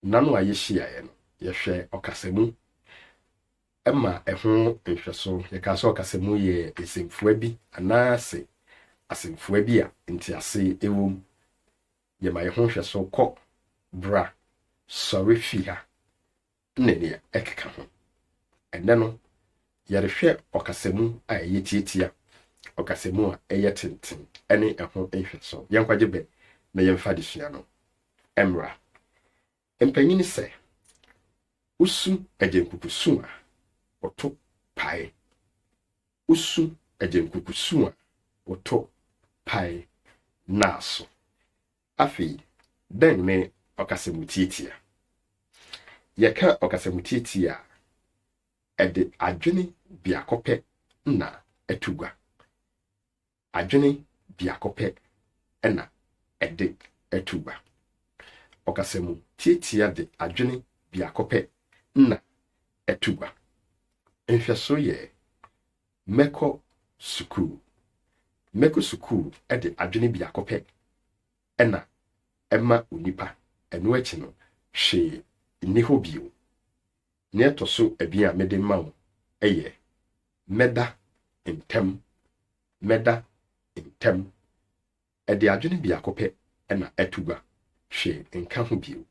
Nna no a yehyiaeɛ no, yɛhwɛɛ ɔkasamu ma ɛho nhwɛso. Yɛkaa sɛ ɔkasamu yɛ nsɛmfua bi anaase asɛmfua bi a ntease wom. Yɛma yɛho nhwɛso kɔ, bra, sɔre fi ha. ne nea ɛkeka ho. Ɛnnɛ no, yɛrehwɛ ɔkasamu a ɛyɛ tiatia, ɔkasamu a ɛyɛ tenten ne ɛho nhwɛso. Yɛnkwagye bɛ na yɛmfa adesua no mmra. Mpanyin sɛ, Wosu agyenkuku su a, woto pae. Wosu agyenkuku su a, woto pae. Naaso, Afei, dɛn ne ɔkasamutiatia? Yɛka ɔkasamutiatia a, ɛde adwene biako pɛ na ɛto gua. Adwene biako pɛ na ɛde to gua. Ɔkasamutiatia de adwene biako pɛ na ɛto gua. Nhwɛso yɛ Mɛkɔ sukuu. Mɛkɔ sukuu de adwene biako pɛ na ɛma onipa, ɛno akyi no, hwee nni hɔ bio. Nea ɛtɔ so abien a mede ma wo yɛ, Mɛda ntɛm. Mɛda ntɛm. Ɛde adwene biako pɛ na ɛto gua, hwee nka ho bio.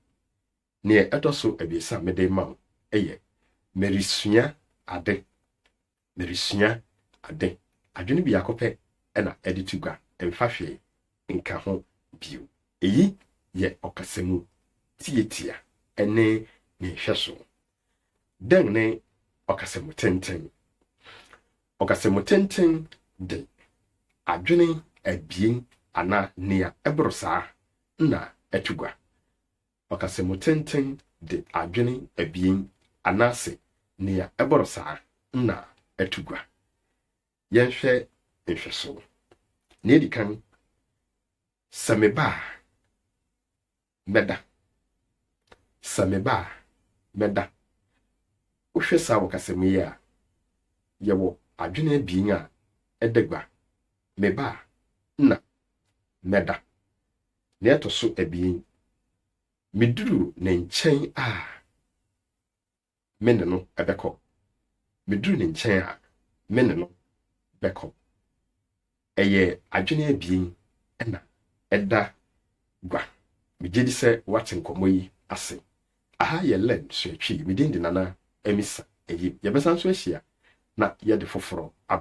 Nea ɛtɔ so abiɛsa a mede rema wo yɛ Meresua Ade, Meresua Ade. Adwene biako pɛ na ɛde to gua, mfa hwee nka ho bio. Eyi yɛ ɔkasa mu tiatia ne ne nhwɛso. Dɛn ne ɔkasa mu tenten? Ɔkasa mu tenten de adwene abien anaa nea ɛboro saa na ɛto gua. Ɔkasamu tenten de adwene abien anaase nea ɛbɔrɔ saa na ɛto gua. Yɛnhwɛ nhwɛso. Nea edi kan, Sɛ meba a, mɛda. Sɛ meba a, mɛda. Wohwɛ saa ɔkasamu yi a, yɛwɔ adwene abien a ɛda gua, meba a na mɛda. Nea ɛtɔ so abien, miduru ne nkyɛn a, me ne no bɛkɔ. Miduru ne nkyɛn a, me ne no bɛkɔ. Ɛyɛ adwene abien na ɛda gua. Megye di sɛ woate nkɔmmɔ yi ase. Aha yɛ Len Suatwii. Me din de Nana Amisa Ayim. Yɛbɛsan nso ahyia na yɛde foforɔ abrɛ.